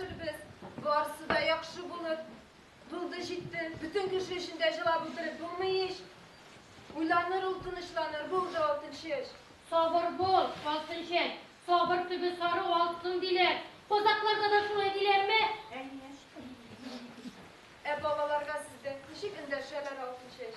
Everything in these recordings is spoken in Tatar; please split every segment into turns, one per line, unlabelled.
Без, барысы да яхшы булыр. Булды, җитте. Бөтен кеше өчен дә җылап утырып булмый ич. Уйланыр ул, тынычланыр. Булды, Алтынчәч. Сабыр бул, Алтынчәч. Сабыр төбе сару алтын, диләр. Казакларда да шулай диләрме? Әйе. Ә балаларга сездә ничек эндәшәләр, Алтынчәч?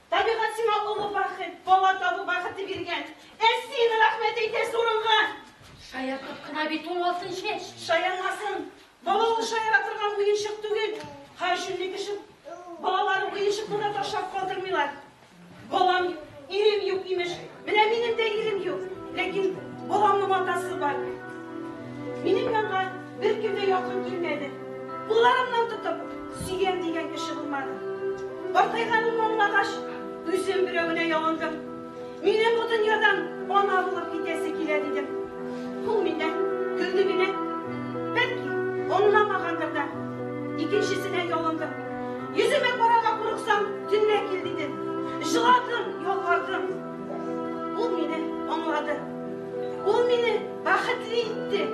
Табигать сиңа олы бәхет, бала табу бәхете биргән. Ә син рәхмәт әйтәсе урынга. Шаяртып кына бит ул алтын чәч. Шаярмасын. Бала ул шаяра торган уенчык түгел. Һәршөндый кеше балалары уенчыкны да ташлап калдырмыйлар. Балам, ирем юк, имеш, Менә минем дә ирем юк, ләкин баламның атасы бар. Минем янга бер кем дә якын килмәде. Кулларымнан тотып, сөйгән дигән кеше булмады. Картайганым аңлагач, үзем берәвенә ялындым. Миннән бу дөньядан ана булып китәсе килә дидем. Ул миннән көлде генә. Бәлки, аңламагандыр да. Икенчесенә ялындым. Йөземә карарга курыксам, төнлә кил дидем. Җыладым, ялвардым. Ул мине аңлады. Ул мине бәхетле итте.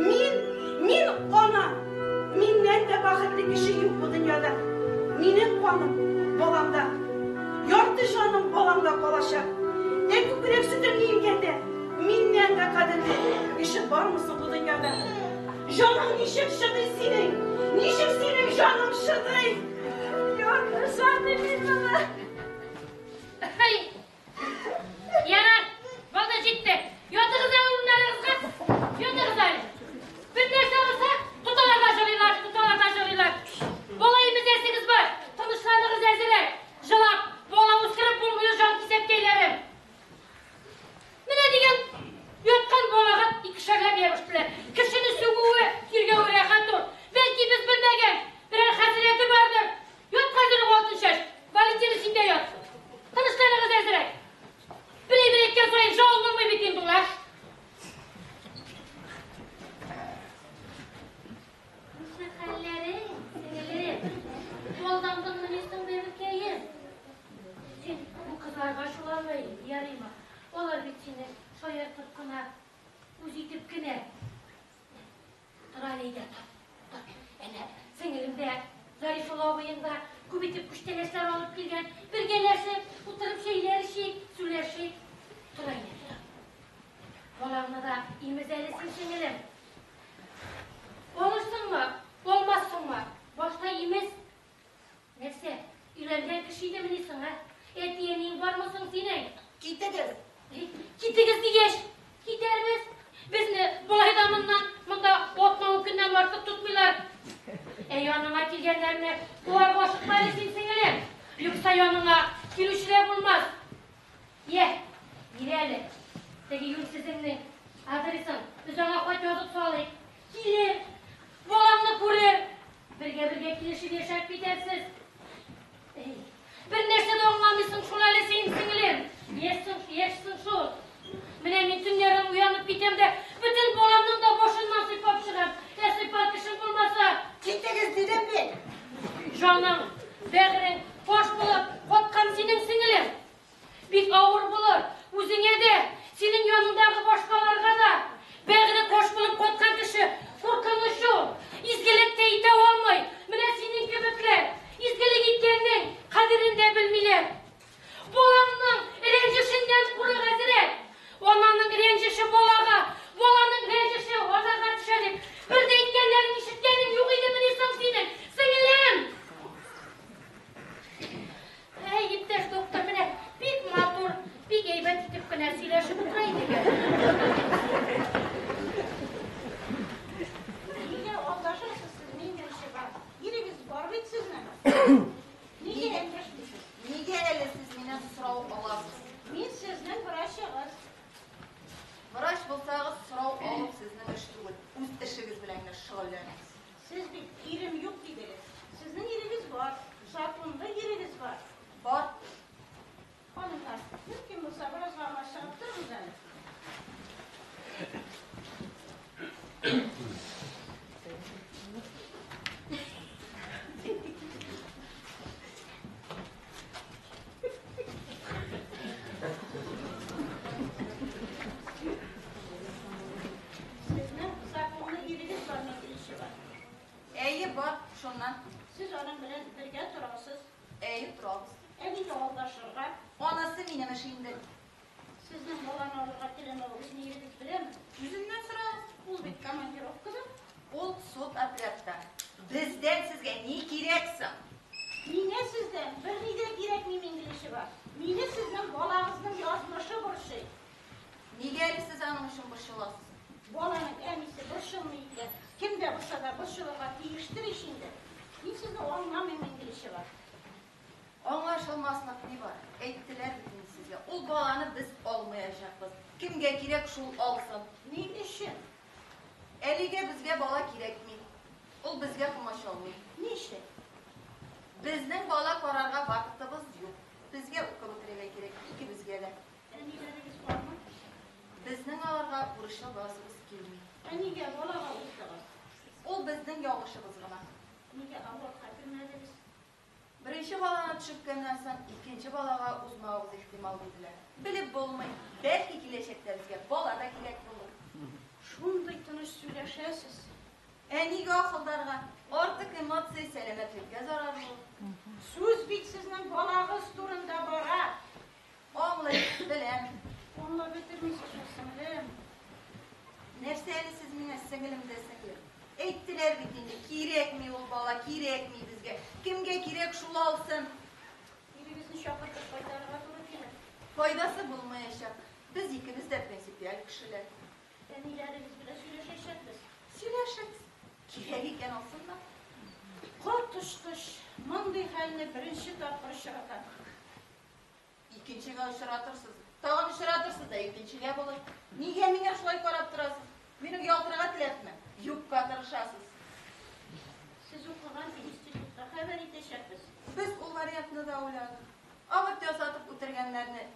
Мин, мин ана. Миннән дә бәхетле кеше юк бу дөньяда. Минем каным баламда. Ярты җаным баламда калачак. Ә күкрәк сөтемне имгәндә, миннән дә кадерле кеше бармы соң бу дөньяда? Җаның ничек чыдый синең? Ничек синең җаның чыдый? Ярты җаны мин моны. Хәй! Ярар, вакыт җитте. Ятыгыз әле урыннарыгызга. Ятыгыз әле. Бер нәрсә булса, тоталарга җырлыйлар, тоталарга җырлыйлар. Бала имезәсегез бар. Тынычланыгыз әзерәк. Җылап, бала үстереп булмый ул җанкисәккәйләрем. Менә дигән яткан балага икешәрләп ябыштылар. Кешене сүгүе, тиргәве рәхәт ул. Бәлки без белмәгән, берәр хәзрәте бардыр. Ят хәзерем алтын чәч, Валентина син дә ят. Тынычланыгыз әзрәк. Берәй-бер әйткән саен жау булмый бит инде ул, а? Күрше хәлләрең, сеңелем? Чуалдандыңмыни соң, бәбекәем? Син бу кызларга чуалмый ярыймы? Алар бит сине шаяртып кына, үз итеп кенә. Тор әле өйдә, тор, тор. Әнә, сеңелем дә, Зарифулла абыең да күп итеп күчтәнәчләр алып килгән. Бергәләшеп, утырып чәйләр эчик, сүләшик. Тор әле, тор. Балаңны да имез әле син, сеңелем. Калырсыңмы, калмассыңмы? Башта имез. Нәрсә, өйләнгән кеше идемени соң, ә? Әти-әниең бармы соң синең? Китегез! Китегез дигәч, китәрбез. Безне болай да моннан, монда атна-ун көннән артык тотмыйлар. Ә яныңа килгәннәрне куарга ашыкма әле син, сеңелем. Юкса яныңа килүчеләр булмас. Йә, бир әле, теге юньсезеңнең адресын, без аңа хат язып салыйк. Килер, баламны күрер, бергә-бергә килешеп яшәп китәрсез. Әй, бер нәрсә дә аңламыйсың шул әле син, сеңлем. Яшьсең, яшьсең шул. Менә мин төннәрен уянып китәм дә, бөтен баламның да башыннан сыйпап чыгам. Ә сыйпар кешем булмаса, Китегез, дидем мин. җаның, бәгырең фаш булып каткан синең сеңлем. Бик авыр булыр, үзеңә дә, синең яныңдагы башкаларга да. Бәгъре кош булып каткан кеше куркыныч ул. Изгелек тә итә алмый. Менә синең кебекләр изгелек иткәннең кадерен дә белмиләр. Балаңның рәнҗешеннән курык әзрәк. Ананың рәнҗеше балага, баланың рәнҗеше анага төшә дип, бер дә әйткәннәрен ишеткәнең юк идемени соң синең, сеңелем? Хәй, иптәш доктор, менә бик матур, бик әйбәт итеп кенә сөйләшеп утыра идек әле. Нигә алдашасыз сез миннән чыга? Ирегез бар бит сезнең. Нигә әйтмешмисез? Нигә әле сез миннән сорау аласыз? Мин сезнең врачыгыз. Врач булсагыз, сорау алу сезнең эш түгел. Үз эшегез белән генә шөгыльләнегез. Сез бит ирем юк дидегез. Сезнең ирегез бар, законлы ирегез бар. Бар. Ханымнар, мөмкин булса, бераз гына чыгып торыгыз әле. Әйе, бар, шуннан. Сез аның белән бергә торасыз. Әйе, торабыз. Ә нигә алдашырга? Анысы минем эш инде. Сезнең баланы алырга теләмәвегез ни ирегез беләме? Үзеннән сора, ул бит командировкада. Ул суд отрядта. Бездән сезгә ни кирәк соң? Миңа сездән берни дә кирәкми, Мингилишева. Мине сезнең балагызның язмышы борчый. Нигә әле сез аның өчен борчыласыз? Баланың әнисе борчылмый икән, кем дә булса да борчылырга тиештер ич инде. Мин сезне аңламыйм, Мингилишева. Аңлашылмаслык ни бар? Әйттеләр бит инде сезгә, ул баланы без алмаячакбыз. Кемгә кирәк, шул алсын. Ни өчен? Әлегә безгә бала кирәкми. Ул безгә комачаулый. Ни өчен? Безнең бала карарга вакытыбыз юк. Безгә укып бетерергә кирәк, икебезгә дә. Әниләрегез бармы? Безнең аларга бурычлы буласыбыз килми. Ә нигә балага уттыгыз? Ул безнең ялгышыбыз гына. Нигә авырт хәтерләдегез? Беренче баланы төшерткәннән соң икенче балага узмавыбыз ихтимал, диделәр. Белеп булмый, бәлки киләчәктә безгә бала да кирәк булыр. Шундый тыныч сөйләшәсез. Ә нигә ахылдарга? Артык эмоция сәламәтлеккә зарарлы. Сүз бит сезнең балагыз турында бара. Аңлыйм, беләм. Аңлап бетермичә шул, сеңлем. Нәрсә әле сез миңа сеңлем дә сеңлем? Әйттеләр бит инде, кирәкми ул бала, кирәкми безгә. Кемгә кирәк, шул алсын. Ирегезне чакыртып кайтарырга туры килер. Файдасы булмаячак. Без икебез дә принципиаль кешеләр. Әниләрегез белән сөйләшәчәкбез. Сөйләшегез. Кирәк икән алсыннар. Коточкыч! Мондый хәлне беренче тапкыр очратам. Икенчегә очратырсыз. Тагын очратырсыз да икенчегә булыр. Нигә миңа шулай карап торасыз? Минем ялтырага теләпме? Юкка тырышасыз. Сез укыган институтта хәбәр итәчәкбез. Без ул вариантны да уйладык. Авырт ясатып үтергәннәрне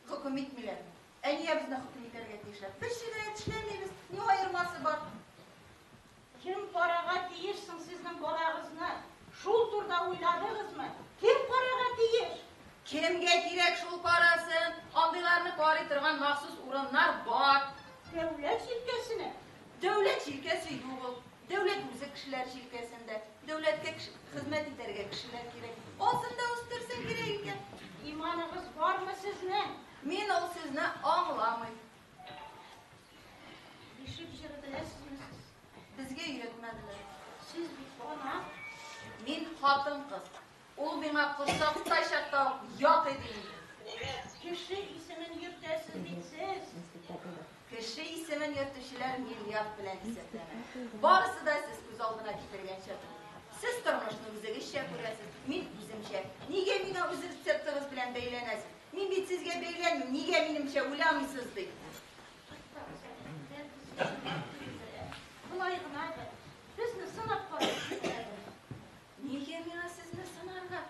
хөкем итмиләрме? Әниябезне хөкем итәргә тиешләр. Без җинаять эшләмибез. Ни аермасы бар? Кем карага тиеш соң сезнең балагызны? Шул турда уйладыгызмы? Кем карага тиеш? Кемгә кирәк шул карасы? Андыйларны карый торган махсус урыннар бар. Дәүләт җилкәсенә? Дәүләт җилкәсе юк ул. Дәүләт үзе кешеләр җилкәсендә. Дәүләткә хезмәт итәргә кешеләр кирәк. Асын да үстерсә кирәк икән. Иманыгыз бармы сезнең? Мин ул сүзне аңламыйм. Бишек җыры беләсезме сез? Безгә өйрәтмәделәр. Сез бит ана. Мин хатын-кыз. Ул миңа корсакта чакта ук ят иде инде. Кеше исемен йөртәсез бит сез. Кеше исемен йөртүчеләр миллиард белән исәпләнә. Барысы да сез күз алдына китергәнчә түгел. Сез тормышны үзегезчә күрәсез, мин үземчә. Нигә миңа үз рецептыгыз белән бәйләнәсез? Мин бит сезгә бәйләнмим, нигә минемчә уйламыйсыз, ди. Болай гына бер. Безне сынап карыйк. Нигә миңа сезне сынарга?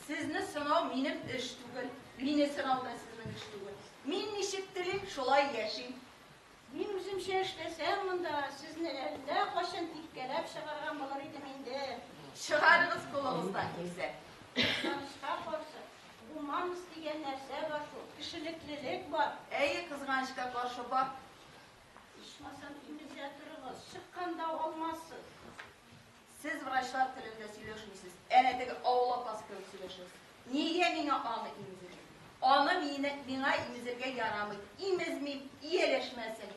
Сезне сынау минем эш түгел. Мине сынау да сезнең эш түгел. Мин ничек телим, шулай яшим. Мин үземчә эшләсәм монда, сезне әллә кайчан типкәләп чыгарган булыр идем инде. Чыгарыгыз кулыгыздан килсә. Кызганычка каршы, гуманность дигән нәрсә бар шул, кешелеклелек бар. Әйе, кызганычка каршы бар. Ичмасам, имезә торыгыз, чыкканда алмассыз. Сез врачлар телендә сөйләшмисез, әнә теге авыл апасы кебек сөйләшәсез. Нигә миңа аны имезергә? Аны мине, миңа имезергә ярамый. Имезмим, ияләшмәсен.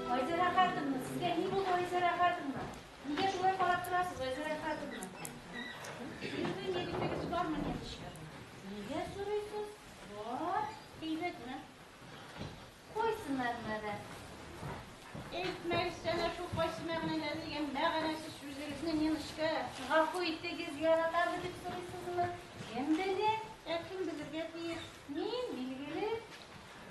Айзәрә хатынна, сезгә ни булды, Айзәрә хатынна? Нигә шулай карап торасыз, Айзәрә хатынна? Сезнең егетегез бармы, Нәтишкә? Нигә сорыйсыз? Бар, әйбәтме? Кайсы мәгънәдә? Әйтмәгез әнә шул кайсы мәгънәдә дигән мәгънәсез сүзегезне, Ниночка. Гафу итегез, яратамы дип сорыйсызмы? Кем белә? Ә кем белергә тиеш? Мин, билгеле.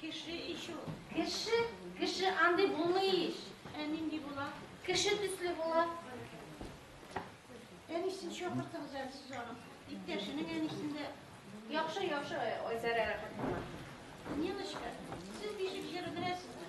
Кеше ич ул. Кеше? Кеше андый булмый ич. Ә нинди була? Кеше төсле була. Әнисен чакыртыгыз әле сез аның. Иптәшенең әнисен дә. Яхшы, яхшы, Айсара рәхмәт. Ниночка, сез бишек җыры беләсезме?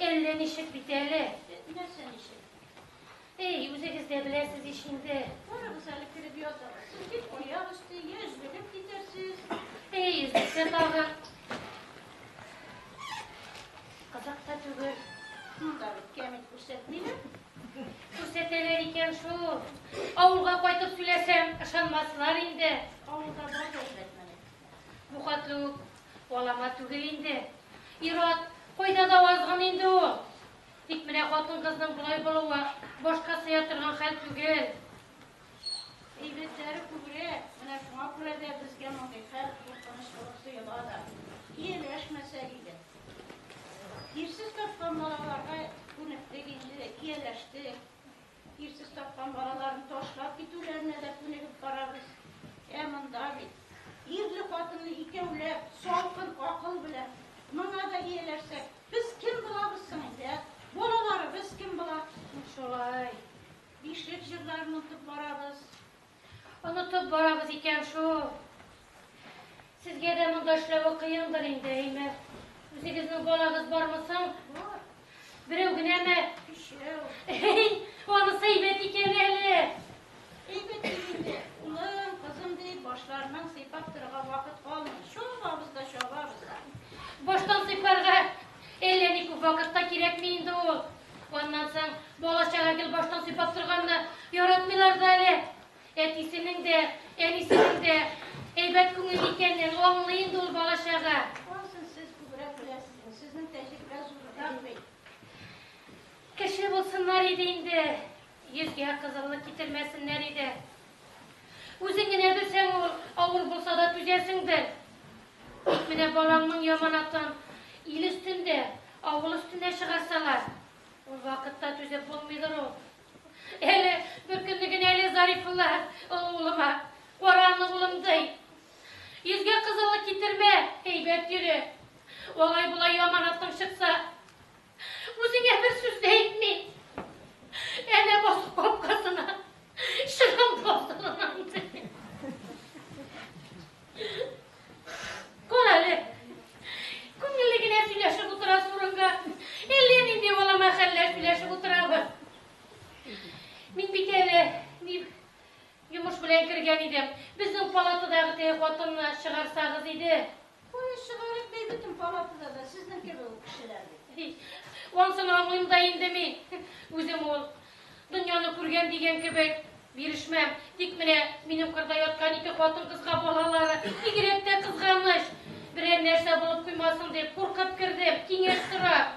Әллә ничек бит әле. Нәрсә ничек? Эй, үзегез дә беләсез ич инде. Куягыз әле кереп ятып. Сез бит аяк өсте, я өзлегеп китәрсез. Эй, өзлексә тагы. Кызык та түгел. Монда бит кәмит күрсәтмиләр. Күрсәтәләр икән шул. Авылга кайтып сөйләсәм, ышанмаслар инде. Авылда бар да Бу хәтле үк алама түгел инде. Ир-ат кайда да азгын инде ул. Тик менә хатын-кызның болай булуы башка сыя торган хәл түгел. Әйбәтләре күбрәк, менә шуңа күрә дә безгә мондый хәл куркыныч булып тоела да. Ияләшмәсәк иде. Ирсез тапкан балаларга күнектек инде, ияләштек. Ирсез тапкан балаларын ташлап китүләренә дә күнегеп барабыз. Ә монда бит, ирле-хатынлы икәүләп, салкын акыл белән, моңа да ияләшсәк, без кем булабыз соң инде, ә? Балаларыбыз кем була? Шулай, бишлек җырларын онытып барабыз. Онытып барабыз икән шул. Сезгә дә монда эшләве кыендыр инде, әйме? Үзегезнең балагыз бармы соң? Берәү генәме? Өчәү. Әй, анысы әйбәт икән әле. Әйбәт инде. Улым, кызым дип, башларыннан сыйпап торырга вакыт калмый. Чабабыз да, чабабыз да. Баштан сыйпарга әллә ни күп вакыт та кирәкми инде ул. Аннан соң бала-чага гел баштан сыйпап торганны яратмыйлар да әле. Әтисенең дә, әнисенең дә әйбәт күңел икәнен аңлый инде ул бала-чага. Ансын сез күбрәк беләсез, сезнең тәҗрибә зуррак бит. Кеше булсыннар иде инде, йөзгә кызыллык китермәсеннәр иде. Үзең генә белсәң, ул авыр булса да түзәсеңдер. Менә балаңның яманатын ил өстендә, авыл өстенә чыгарсалар, ул вакытта түзеп булмыйдыр ул. Әле бер көнне генә әле Зарифулла олы улыма, Кара аны, улым, ди. Йөзгә кызыллык китермә, әйбәт йөре. Алай-болай яманатың чыкса, Үзеңә бер сүз дә әйтми. Әнә басып капкасына. Чыгам басырына. Кара әле. Күңелле генә сөйләшеп утыра сурынга. Әллә нинди балама хәлләр сөйләшеп утырабыз. Мин бит әле дип йомыш белән кергән идем. Безнең палатадагы теге хатынны чыгарсагыз иде. Кая чыгарыйк бит бөтен палатада да сезнең кебек үк кешеләр бит. Ансын аңлыйм да инде мин. Үзем ул дөньяны күргән дигән кебек бирешмәм. Тик менә минем кырда яткан ике хатын-кызга балалары бигрәк тә кызганыч. Берәр нәрсә булып куймасын дип куркып кердем, киңәш сорап.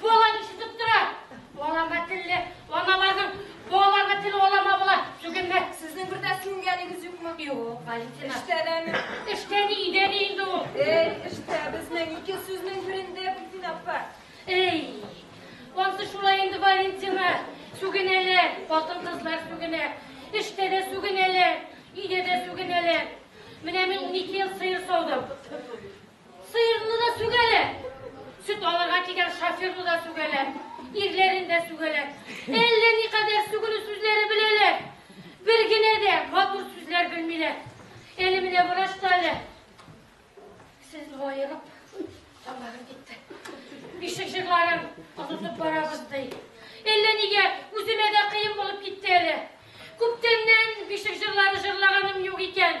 Буалар ишетеп тора. Буаларга телле аналарның буаларга теле алама була. Түгелме? Сезнең бер дә сүнгәнегез юкмы? Юк, Валентина. Эштәдәме? Эштә ни, өйдә ни инде ул? Эй, эштә безнең ике сүзнең берендә Битин апа. Эй, ансы шулай инде, Валентина. Сүгенәләр, хатын-кызлар сүгенә. Эштә дә сүгенәләр, өйдә дә сүгенәләр. Менә мин унике ел сыер саудым. Сыерны да сүгәләр. Сөт алырга кигән шоферны да сүгәләр. Ирләрен дә сүгәләр. Әллә никадәр сүгенү сүзләре беләләр. Бер генә дә матур сүзләр белмиләр. Әле менә врач та әле. Сез аерып, тамагым китте. Бишек җырларын онытып барабыз ди. Әллә нигә үземә дә кыен булып китте әле. Күптәннән бишек җырлары җырлаганым юк икән.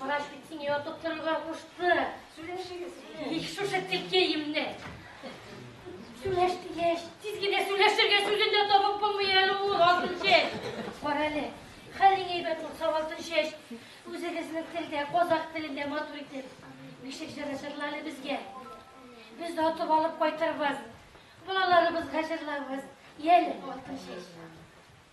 Врач бит сине ятып торырга кушты. Сөйләшегез. Их, шушы текеемне. Сүләш, сүләш. Тиз генә сүләшергә сүзен дә табып булмый әле ул алтын чәч. Бар әле. Хәлең әйбәт булса алтын чәч. Үзегезнең телдә, казак телендә матур итеп. Бишек җыры җырла әле безгә. Без дә атып алып кайтырбыз. Балаларыбызга җырларбыз. Йәле алтын чәч.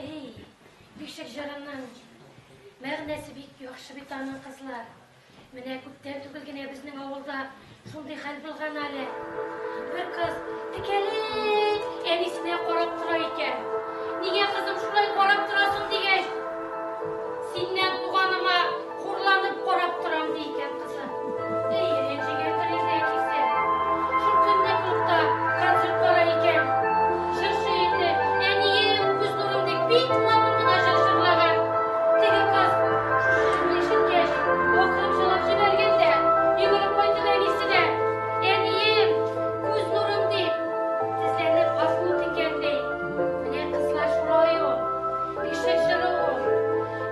Эй, бишек җырының мәгънәсе бик яхшы бит аның, кызлар. Менә күптән түгел генә безнең авылда шундый хәл булган әле. Бер кыз текәлей әнисенә карап тора икән. Нигә кызым шулай карап торасың дигәч, синнән туганыма Хурланып карап торам, ди икән кызы. Әйе, Рәнҗегә тәрәзә кисә. Шул көнне клубта концерт бара икән. Җырчы инде, Әнием, күз нурым дип, бик матур гына җыр җырлаган. Теге кыз шушы җырны ишеткәч, акырып җырлап җибәргән дә, йөгереп кайтып әнисенә, Әнием, күз нурым дип, тезләнеп гафу үтенгән, ди. Менә, кызлар, шулай ул. Ишек җыры ул.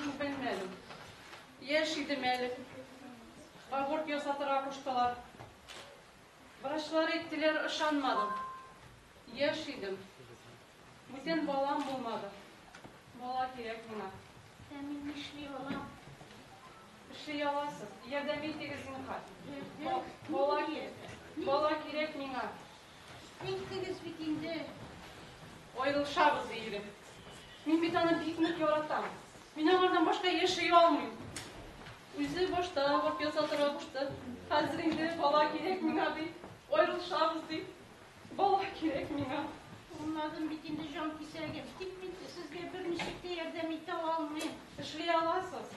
Мин белмәдем. Яшь идем әле. Аборт ясатырга куштылар. Врачлар әйттеләр, ышанмадым. Яшь идем. Бүтән балам булмады. Бала кирәк миңа. Ә мин нишли алам? Эшли аласыз. Ярдәм итегез, зинһар. Бала кирәк миңа. Күрдегез бит инде. Аерылышабыз, ди егет. Мин бит аны бик нык яратам. Мин аңардан башка яши алмыйм. Үзе башта аборт ясатырга кушты. Хәзер инде бала кирәк миңа, ди. Аерылышабыз, ди. Бала кирәк миңа. Аңладым бит инде, җанкисәгем. Тик мин сезгә берничек тә ярдәм итә алмыйм. Эшли аласыз.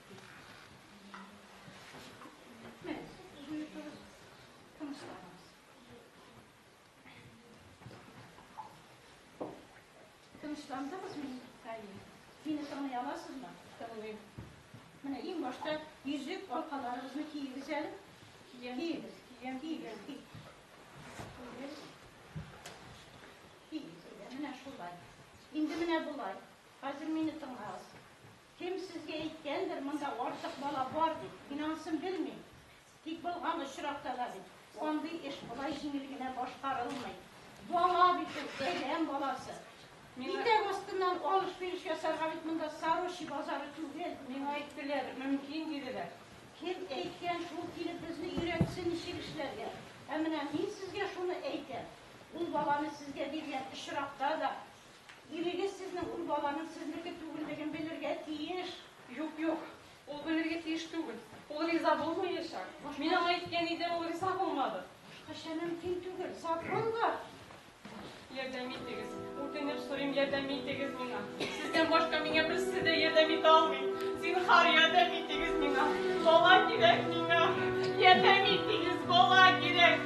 Тынычландыңыз мин Әйе. Мине тыңлый аласызмы? Тыңлыйм. Менә иң башта йөзек алкаларыгызны киегез әле. Киегез, киегез, киегез. Киегез. Киегез. Менә шулай. Инде менә болай. Хәзер мине тыңлагыз. Кем сезгә әйткәндер, монда артык бала бар дип? Мин анысын белмим. Тик булган очракта да бит, андый эш болай җиңел генә башкарылмый. Бала бит ул, бәйрәм баласы. Итәк астыннан алыш-биреш ясарга бит монда Сорочи базары түгел. Миңа әйттеләр, мөмкин, диделәр. Кем әйткән шул килеп безне өйрәтсен ничек эшләргә? Ә менә мин сезгә шуны әйтәм, ул баланы сезгә биргән очракта да, Ирегез сезнең ул баланың сезнеке түгеллеген белергә тиеш. Юк, юк, ул белергә тиеш түгел. Ул риза булмаячак. Мин аңа әйткән идем, ул риза булмады. Башкача мөмкин түгел. Закон бар. Ярдәм итегез. Үтенеп сорыйм, ярдәм итегез миңа. Сездән башка миңа берсе дә ярдәм итә алмый. Зинһар, ярдәм итегез миңа. Бала кирәк миңа. Ярдәм итегез, бала кирәк.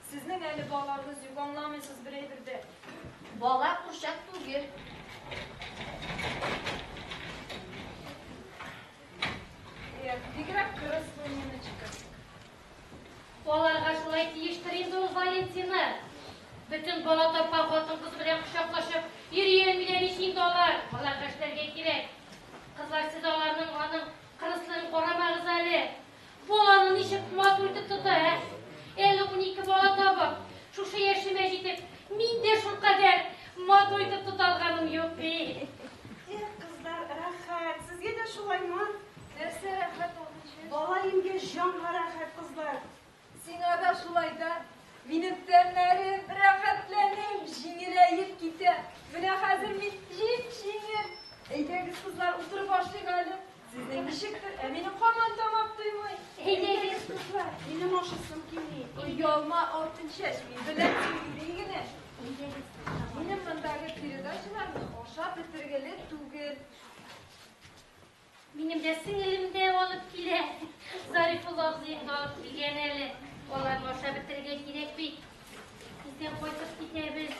Сезнең әле балагыз юк, аңламыйсыз бер әйбер дә. Бала курчак түгел. Бигрәк кырыс бу Ниночка. Балага шулай тиештер инде ул Валентина. Бөтен бала тапкан хатын-кыз белән кочаклашып, йөриен биләр ич инде алар. Аларга эшләргә кирәк. Кызлар, сез аларның аның кырыслыгын карамагыз әле. Баланы ничек матур итеп тота, ә? Әле унике бала табып, шушы яшемә җитеп, мин дә шулкадәр матур итеп тота алганым юк бит. Эх, кызлар, рәхәт. Сезгә дә шулаймы? Нәрсә рәхәт ул? Бала имгәч, җанга рәхәт, кызлар. Сиңа да шулай да. Минем тәннәрем рәхәтләнеп, җиңеләеп китә. Менә хәзер мин җип-җиңел. Әйдәгез, кызлар, утырып ашыйк әле. Сезнең ничектер, ә минем һаман тамак туймый. Әйдә, әйдә, дуслар, минем ашасым килми. Оялма, алтын чәч, мин беләм килми генә. Минем мындагы передачаларны ашап бетергеле түгел. Минем дә сеңелем дә алып килә. Зарифулла абзыем да алып килгән әле. Аларны ашап бетергә кирәк бит. Biz de koyduk gidebiliriz.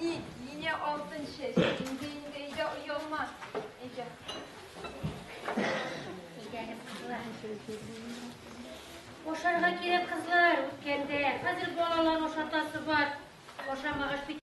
Ник, нине алтын чәч, инде инде өйдә оялма. Әйдә. Ашарга кирәк, кызлар, үткәндә. Хәзер балалар ашатасы бар. Ашамагач бит.